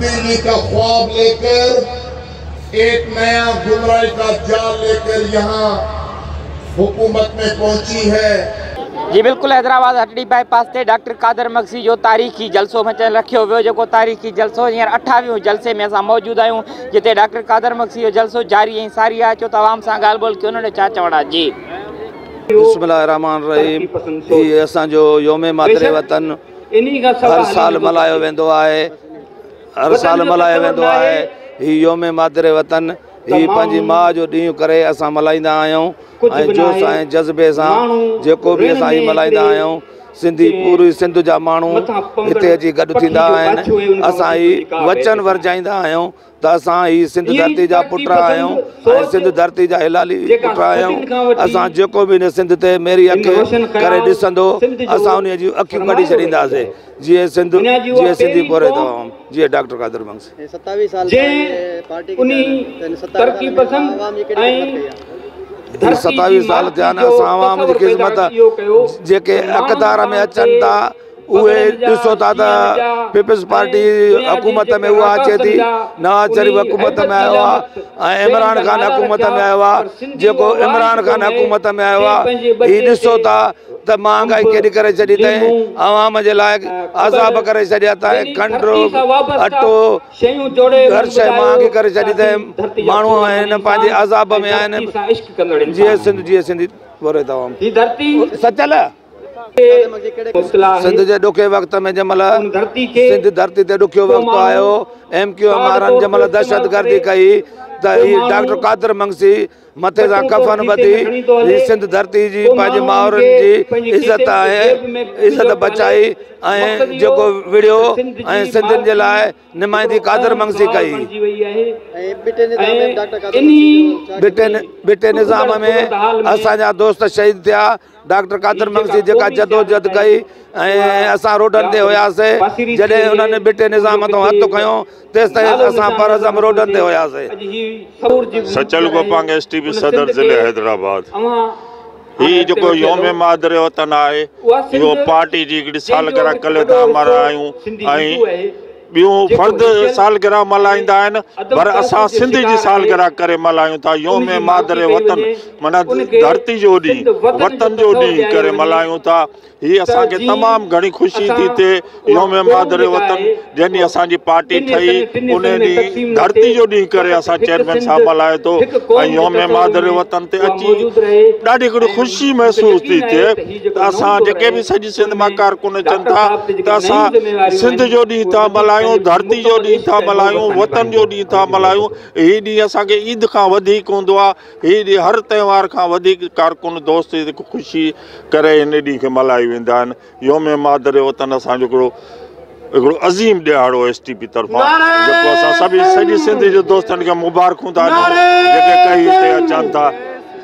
بجلي ڪا خواب لي ڪر ايڪ نيا گمراهي ڪا جال لي ڪر يهان حڪومت مين پهچي هي. جي بلڪل حيدرآباد هٽڙي بائي پاس تي ڊاڪٽر قادر مگسي جو تاريخي جلسو مچل رکيو ويو جيڪو تاريخي جلسو هينئر اٺاويهون جلسي ۾ اسان موجود آهيون جتي ڊاڪٽر قادر مگسي جو جلسو جاري ۽ ساري آهي اچو ته عوام سان ڳالهه ٻولهه ڪيون نڙي ڇا چوڻ آهي جي. بسم الله الرحمٰن الرحيم هي اسان جو يوم مادر وطن. هر سال ملهايو ويندو آهي هر سال ملهايو ويندو آهي هي يوم مادر وطن هي پنهنجي ماء جو ڏينهن ڪري اسان ملهائيندا آهيون ۽ جوش ۽ جذبي سان جيڪو به اسان هي ملهائيندا آهيون سنڌي پوري سنڌ جا ماڻهو هتي اچي گڏ ٿيندا آهن اسان هي وچن ورجائيندا آهيون ته اسان هي سنڌ ڌرتي جا پٽ آهيون ۽ سنڌ ڌرتي جا هلالي پٽ آهيون. اسان جيڪو به هن سنڌ تي ميري اک ڪري ڏسندو، اسان انهيء جون اکيون ڪڍي ڇڏينداسي. جيئي سنڌ، جيئي سنڌي پورهيت عوام، جيئي ڊاڪٽر قادر بنگسي. هي ستاويهه سال ٿيا آهن اسان عوام جي خدمت جيڪي اقتدار ۾ اچن ٿا. اهي ڏسو ٿا ته پيپلز پارٽي حڪومت ۾ اها اچي ٿي نواز شريف حڪومت ۾ آيو آهي ۽ عمران خان حڪومت ۾ آيو آهي جيڪو عمران خان حڪومت ۾ آيو آهي هي ڏسو ٿا ته مهانگائي ڪيڏي ڪري ڇڏي اٿائين عوام جي لاء عذاب ڪري ڇڏيا اٿائين کنڊ اٽو هر شيء مهانگي ڪري ڇڏي اٿائين ماڻهو آهن پنهنجي عذاب ۾ آهن جي سنڌ جي سنڌي وري دوام سچل سنڌ جي ڏکي وقت ۾ جنهن مهل سنڌ ڌرتي تي ڏکيو وقت آيو ايم ڪيو ايم وارن جنهن مهل دهشت گردي ڪئي ته هي ڊاڪٽر قادر منگسي مٿي سان ڪفن ٻڌي هي سنڌ ڌرتي جي پنهنجي مائرن جي عزت ۽ عزت بچائي ۽ جيڪو وڙهيو ۽ سنڌين جي لاء نمائندي قادر منگسي ڪئي ٻٽي نظام ۾ اسان جا دوست شهيد ٿيا ڊاڪٽر قادر مگسي جيڪا جدوجھد ڪئي ۽ اسان روڊن تي هياسين جڏهن انهن ٻٽي نظام مٿان هٿ کنيو تيستائين اسان پرعزم روڊن تي هياسين. Sachal Gopang S T P صدر ضلعي حيدرآباد هي جيڪو يوم مادر وطن آهي اهو پارٽي جي هڪڙي سالگرهه ڪلي تان ملهايون ۽ ٻيو فرد سالگرهه ملهائيندا آهن پر اسان سنڌ جي سالگرهه ڪري ملهايون ٿا يوم مادر وطن معنيٰ ڌرتي جو ڏينهن وطن جو ڏينهن ڪري ملهايون ٿا هي اسان کي تمام گهڻي خوشي ٿي ٿئي يوم مادر وطن جنهن ڏينهن اسان جي پارٽي ٺهي انهي ڏينهن ڌرتي جو ڏينهن ڪري اسان چيئرمين صاحب ملهايو ٿو ۽ يوم مادر وطن تي اچي ڏاڍي گهڻي خوشي محسوس ٿي ٿئي ته اسان جيڪي به سڄي سنڌ مان ڪارڪن اچن ٿا ته اسان سنڌ جو ڏينهن ٿا ملهايون ڌرتي جو ڏينهن ٿا ملهايون وطن جو ڏينهن ٿا ملهايون هي ڏينهن اسان کي عيد کان وڌيڪ هوندو آ هي ڏينهن هر تهوار کان وڌيڪ ڪارڪن دوست خوشي ڪري هن ڏينهن کي ملهايو ويندا آهن يوم مادر وطن اسان جو هڪڙو هڪڙو عظيم ڏهاڙو ايس ٽي پي طرفان جيڪو اسان سڀ سڄي سنڌ جي دوستن کي مبارڪون ٿا ڏيون جيڪي ڪهي هتي اچن ٿا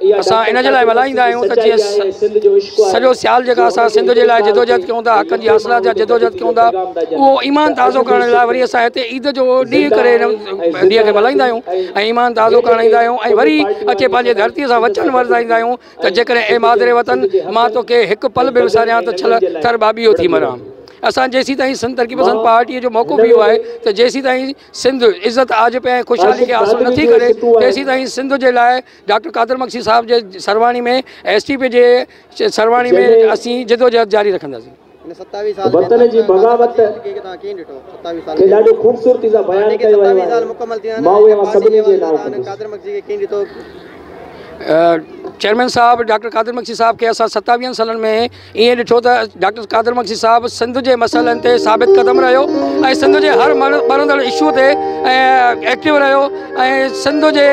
اسان ان جي لاء ملهائيندا آهيون ته جيئن سڄو سيال جيڪا اسان سنڌ جي لاء جدوجهد ڪيون ٿا حقن جي حاصلات جا جدوجهد ڪيون ٿا اهو ايمان تازو ڪرڻ لاء وري اسان هتي عيد جو ڏينهن ڪري ڏينهن کي ملهائيندا آهيون ۽ ايمان تازو ڪرڻ ايندا آهيون ۽ وري اچي پنهنجي ڌرتي سان وچن ورتائيندا آهيون ته جيڪڏهن اي مادر وطن مان توکي هڪ پل به وساريان ته ڇل ٿر ٻاٻيهو ٿي مران اسان جيسي تائين سنڌ ترقي پسند پارٽي جو موقف اهو آهي ته جيسي تائين سنڌ عزت آجپي ۽ خوشحالي کي حاصل نٿي ڪري تيسي تائين سنڌ جي لاء ڊاڪٽر قادر مگسي صاحب جي سرواڻي ۾ ايس ٽي پي جي سرواڻي ۾ اسين جدوجهد جاري رکنداسين. وطن جي بغاوت کي ڏاڍي خوبصورتي سان بيان ڪيو ويو آهي، مان اهي اوهان سڀني جي نانء ڪندس. چيئرمين صاحب ڊاڪٽر قادر مگسي صاحب کي اسان ستاويهن سالن ۾ ائين ڏٺو ته ڊاڪٽر قادر مگسي صاحب سنڌ جي مسئلن تي ثابت قدم رهيو ۽ سنڌ جي هر ٻرندڙ اشو تي ايڪٽو رهيو ۽ سنڌ جي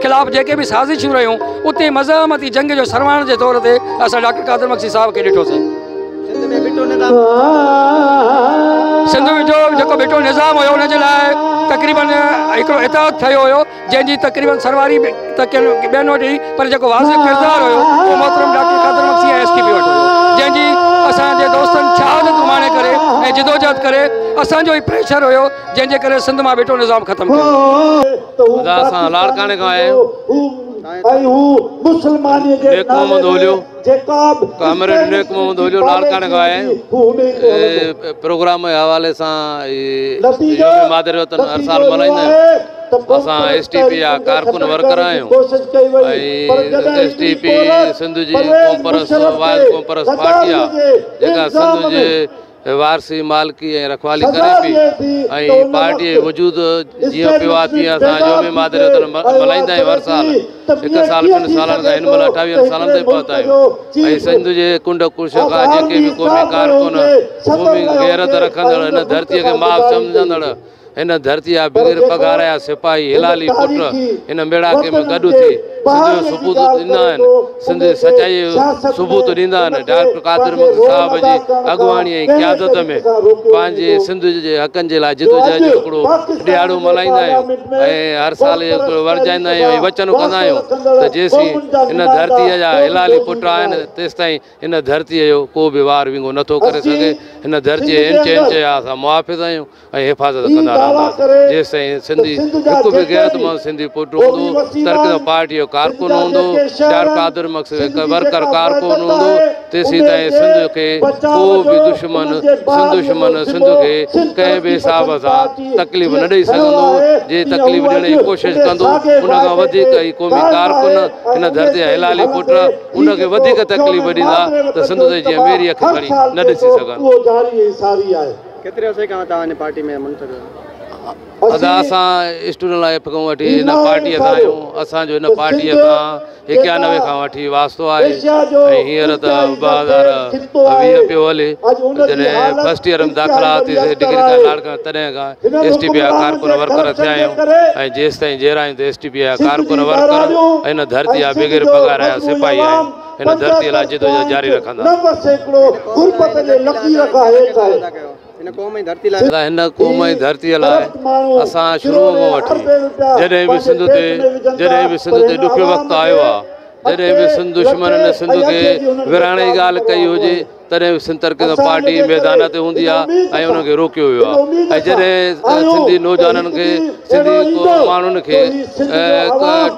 خلاف جيڪي به سازشون رهيون اتي مزاحمتي جنگ جو سرواڻ جي طور تي اسان ڊاڪٽر قادر مگسي صاحب کي ڏٺوسين. سنڌ ۾ جو جيڪو ڀٽو نظام هيو ان جي لاء تقريبن هڪڙو اتحاد ٺهيو هيو. جنهن جي تقريبن سرواري به ته ڪن ٻين وٽ هئي پر جيڪو واضح ڪردار هيو اهو محترم doctor Qadir Magsi ۽ S T P وٽ هيو جنهن جي اسان جي دوستن شهادت اماڻي ڪري ۽ جدوجهد ڪري اسان جو ئي پريشر هيو جنهن جي ڪري سنڌ مان ڀٽو نظام ختم ٿيو. خدا سان لاڙڪاڻي کان آيا آهيون ۽ هو مسلمانيء جي نالي ۾ ڪامريڊ نيڪ محمد هوجو لاڙڪاڻي کان آيا آهيون پروگرام جي حوالي سان يوم مادر وطن هر سال ملهائيندا آهيون اسان ايس ٽي پي جا ڪارڪن ورڪر آهيون ۽ ايس ٽي پي سنڌ جي قوم پرست وائل قوم پرست پارٽي آهي جيڪا سنڌ جي وارثي، مالڪي ۽ رکوالي ڪري پئي ۽ پارٽيء جي وجود جيئن پيو آهي تيئن اسان يوم مادر جو ڏڻ ملهائيندا آهيون هر سال هڪ سال ٻن سالن کان هن مهل اٺاويهن سالن تائين پهتا آهيون ۽ سنڌ جي ڪنڊ ڪڙڇ کان جيڪي به قومي ڪارڪن قومي غيرت رکندڙ هن ڌرتيء کي ماء سمجهندڙ هن ڌرتي جا بغير پگهار جا سپاهي هلالي پٽ هن ميڙاڪي ۾ گڏ ٿي سنڌ جو ثبوت ڏيندا آهن، سنڌ جي سچائيء جو ثبوت ڏيندا آهن. ڊاڪٽر قادر مگسي صاحب جي اڳواڻيء ۽ قيادت ۾ پنهنجي سنڌ جي حقن جي لاء جدوجهد جو هڪڙو ڏهاڙو ملهائيندا آهيون ۽ هر سال اهو ورجائيندا آهيون ۽ وچن ڪندا آهيون ته جيسين هن ڌرتيء جا هلالي پٽ آهن تيستائين هن ڌرتيء جو ڪو به وار وينگو نٿو ڪري سگهي. هن ڌرتيء جي انچ انچ جا اسان محافظ آهيون. ۽ حفاظت ڪندا رهنداسين جيستائين سنڌي هڪ به غيرتمند سنڌي پٽ هوندو ترڪدل پارٽي جو ڪارڪن هوندو ڊار قادر مڪسي جو ورڪر ڪارڪن هوندو تيسين تائين سنڌ کي ڪو به دشمن سنڌ دشمن سنڌ کي ڪنهن به حساب سان تڪليف نه ڏئي سگهندو جي تڪليف ڏيڻ جي ڪوشش ڪندو ان کان وڌيڪ هي قومي ڪارڪن هن ڌرتي جا حلالي پٽ ان کي وڌيڪ تڪليف ڏيندا ته سنڌ تي جيئن ميري اک کڻي نه ڏسي سگهن. ڪيتري عرصي کان توهان هن پارٽي ۾ منسلڪ آهيو؟ ادا اسان اسٽوڊنٽ لائيف کان وٺي هن پارٽيء سان آهيون، اسان جو هن پارٽيء سان ايڪيانوي کان وٺي واسطو آهي ۽ هينئر ته ٻه هزار ويهه پيو هلي جڏهن فرسٽ ايئر ۾ داخلا آتي سي ڊگري کان لاڙڪاڻي تڏهن کان ايس ٽي پي جا ڪارڪن ورڪر ٿيا آهيون ۽ جيستائين جيئرا آهيون ته ايس ٽي پي جا ڪارڪن ورڪر ۽ هن ڌرتي جا بغير پگهار جا سپاهي آهيون. هن ڌرتيء لاء جدوجهد جاري رکندا. ادا هن قوم ۽ ڌرتيء لاء اسان شروع کان وٺي جڏهن به سنڌ تي جڏهن به سنڌ تي ڏکيو وقت آيو آهي، جڏهن به سنڌ دشمنن سنڌ کي ورهائڻ جي ڳالهه ڪئي هجي، تڏهن به سنڌ ترقي ڪم پارٽي ميدان تي هوندي آهي ۽ انهن کي روڪيو ويو آهي ۽ جڏهن سنڌي نوجوانن کي سنڌي ماڻهن کي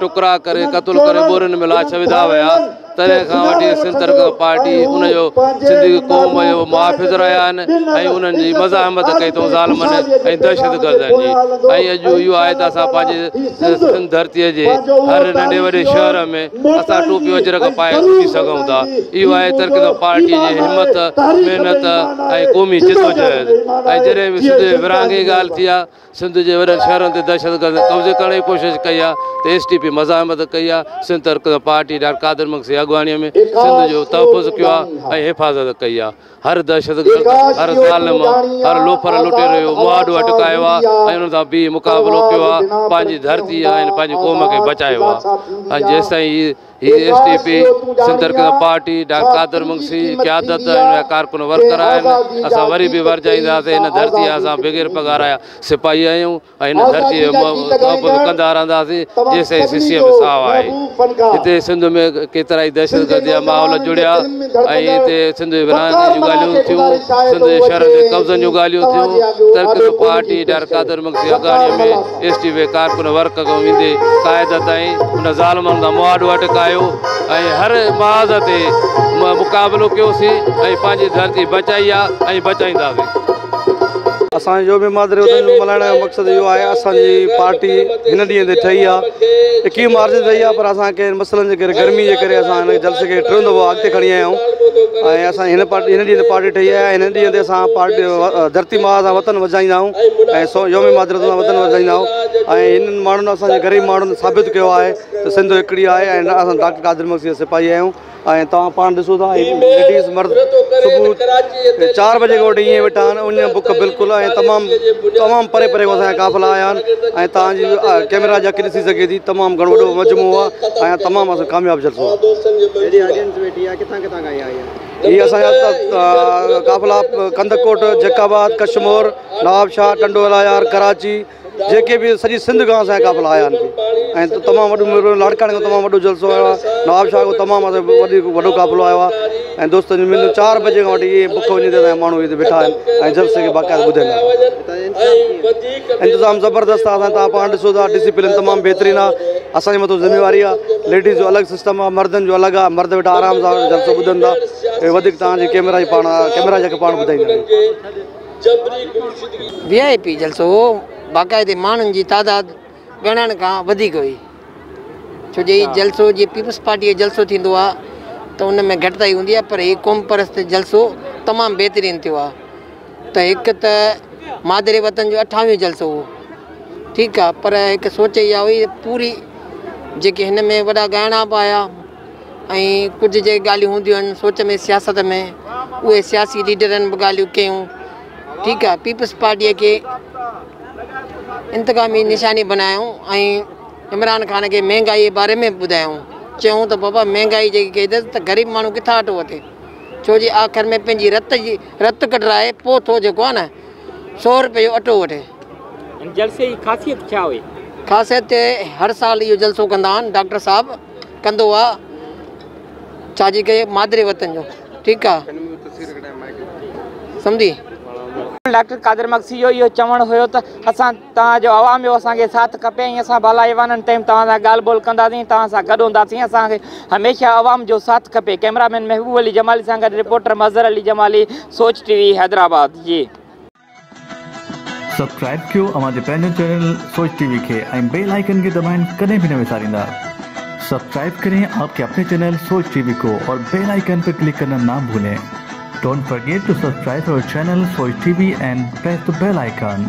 ٽڪرا ڪري قتل ڪري ٻورين ۾ لاش وڌا ويا تڏهن کان وٺي سنڌ ترقي ڪم پارٽي ان جو سنڌي قوم جو محافظ رهيا آهن ۽ انهن جي مزاحمت ڪئي اٿئون ظالمن ۽ دهشت گردن جي ۽ اڄ اهو آهي ته اسان پنهنجي سنڌ ڌرتي جي هر ننڍي وڏي شهر ۾ اسان ٽوپيون اجرڪ پائي اٿي سگهون ٿا، اهو آهي ترڪزم پارٽيء جي همت، محنت ۽ قومي جدوجهد. ۽ جڏهن به سنڌ جي ورهاڱي جي ڳالهه ٿي آهي، سنڌ جي وڏن شهرن تي دهشتگردن قبضي ڪرڻ جي ڪوشش ڪئي آهي ته ايس ٽي پي مزاحمت ڪئي آهي، سنڌ ترڪزم پارٽيء ڊاڪٽر قادر مگسيء جي اڳواڻيء ۾ سنڌ جو تحفظ ڪيو آهي ۽ حفاظت ڪئي آهي. هر دهشتگرد، هر ظالم، هر لوفر لٽيرو اهو مهاڏو اٽڪايو آهي ۽ انهن سان بيهي مقابلو ڪيو آهي، پنهنجي ڌرتي ۽ پنهنجي قوم کي بچايو آهي ۽ جيستائين هي هي S T P, Sindh Taraqqi Party, doctor Qadir Magsi, قيادت ۽ ان جا ڪارڪن ورڪر آهن، اسان وري به ورجائينداسين، هن ڌرتي جا اسان بغير پگهار جا سپاهي آهيون. ۽ هن ڌرتيء جي محبت ڪندا رهنداسين جيسين سسيء ۾ ساهه آهي. هتي سنڌ ۾ ڪيترائي دهشتگردي جا ماحول جڙيا ۽ هتي سنڌ جي ورهاڱي جون ڳالهيون ٿيون، سنڌ جي شهرن جي قبضن جون ڳالهيون ٿيون، ترڪس پارٽي ڊار قادر مگسي اڳاڙيء ۾ ايس ٽي وي ڪارڪن ورڪ کان ويندي قائده تائين، هن ظالمن کان مواڊو اٽڪايو ۽ هر محاذ تي مقابلو ڪيوسين ۽ پنهنجي ڌرتي بچائي آ ۽ بچائينداسين. اسان جو يوم مادري وطن ملهائڻ جو مقصد اهو آهي اسان جي پارٽي هن ڏينهن تي ٺهي آهي اڪيهه مارچ تي ٺهي آهي پر اسان ڪنهن مسئلن جي ڪري گرمي جي ڪري اسان هن جلسي کي ٽيون دفعو اڳتي کڻي آيا آهيون ۽ اسان هن پارٽي هن ڏينهن تي پارٽي ٺهي آهي هن ڏينهن تي اسان پارٽي ڌرتي ماء سان وطن وجهائيندا آهيون ۽ سو يوم مادري سان وطن وجهائيندا آهيون ۽ هنن ماڻهن اسان جي غريب ماڻهن ثابت ڪيو آهي ته سنڌ هڪڙي آهي ۽ اسان ڊاڪٽر قادر مگسي جا سپاهي آهيون ۽ توهان پاڻ ڏسو ٿا هي ليڊيز مرد صبح چار بجي کان وٺي ائين ويٺا آهن ان بک بلڪل ۽ تمام تمام پري پري کان اسان قافلا آيا آهن ۽ توهان جي ڪيمرا جي اک ڏسي سگهي ٿي تمام گهڻو وڏو مجموعو آهي ۽ تمام اسان ڪامياب جلسو هي اسان جا قافلا ڪنڌڪوٽ جيڪب آباد ڪشمور نوابشاهه ٽنڊو الايار ڪراچي جيڪي به سڄي سنڌ کان اسان جي قافلا آيا آهن ۽ تمام وڏو ميلو لاڙڪاڻي کان تمام وڏو جلسو آيو آهي نواب شاهه کان تمام وڌيڪ وڏو قافلو آيو آهي ۽ دوستن جو مليو چار بجي کان وٺي اهي بک وڃي تي ماڻهو هتي بيٺا آهن ۽ جلسي کي باقاعده ٻڌن آهن انتظام زبردست آهي اسان پاڻ ڏسو ٿا ڊسپلن تمام بهترين آهي اسان جي مٿو ذميواري آهي ليڊيز جو الڳ سسٽم آهي مردن جو الڳ آهي مرد ويٺا آرام سان جلسو ٻڌن ٿا وڌيڪ تان جي ڪيمرا جي پاڻ ڪيمرا جا پاڻ ٻڌائيندا وي آء پي جلسو باقاعدي ماڻهن جي تعداد ڳڻڻ کان وڌيڪ هئي ڇو جو هي جلسو جي پيپلز پارٽي جو جلسو ٿيندو آ ته ان ۾ گهٽتائي هوندي آ پر هي قوم پرست جلسو تمام بهترين ٿيو آ ته هڪ ته مادر وطن جو اٺاويهون جلسو هو ٺيڪ آ پر هڪ سوچ اها هئي پوري جيڪي هن ۾ وڏا ڳائڻا به آيا ۽ ڪجهه جي ڳالهيون هونديون آهن سوچ ۾ سياست ۾ اهي سياسي ليڊرن به ڳالهيون ڪيون ٺيڪ آهي پيپلز پارٽيء کي انتقامي نشاني بنايائون ۽ عمران خان کي مهنگائي جي باري ۾ ٻڌايائون چيائون ته بابا مهنگائي جي ڪيد ته غريب ماڻهو ڪٿان اٽو وٺي ڇو جي آخر ۾ پنهنجي رت جي رت ڪڍرائي پوء ٿو جيڪو آهي نه سو روپئي جو اٽو وٺي جلسي جي خاصيت ڇا هئي خاصيت هر سال اهو جلسو ڪندا آهن ڊاڪٽر صاحب ڪندو آ ڇا جي ڪي مادري وطن جو ٺيڪ آ سمجهي. ڊاڪٽر قادر مگسي جو اهو چوڻ هيو ته اسان توهان جو عوام جو اسان کي ساٿ کپي ۽ اسان بالا ايوانن تائين توهان سان ڳالهه ٻولهه ڪنداسين ۽ توهان سان گڏ هونداسين اسان کي هميشه عوام جو ساٿ کپي ڪئميرا مين محبوب علي جمالي سان گڏ reporter Mazhar Ali Jamali Sooch TV Hyderabad. Subscribe ڪيو اوهان جي پنهنجو چينل سوچ ٽي وي کي ۽ بيل آئيڪن کي دٻائڻ ڪڏهن به نه وساريندا سبسڪرائب ڪرين آپ ڪي اپني چينل سوچ ٽي وي ڪو اور بيل آئيڪن پي ڪلڪ ڪرنا نا ڀولين ڊونٽ فرگيٽ ٽو سبسڪرائب اور channel Sooch TV and press the bell icon.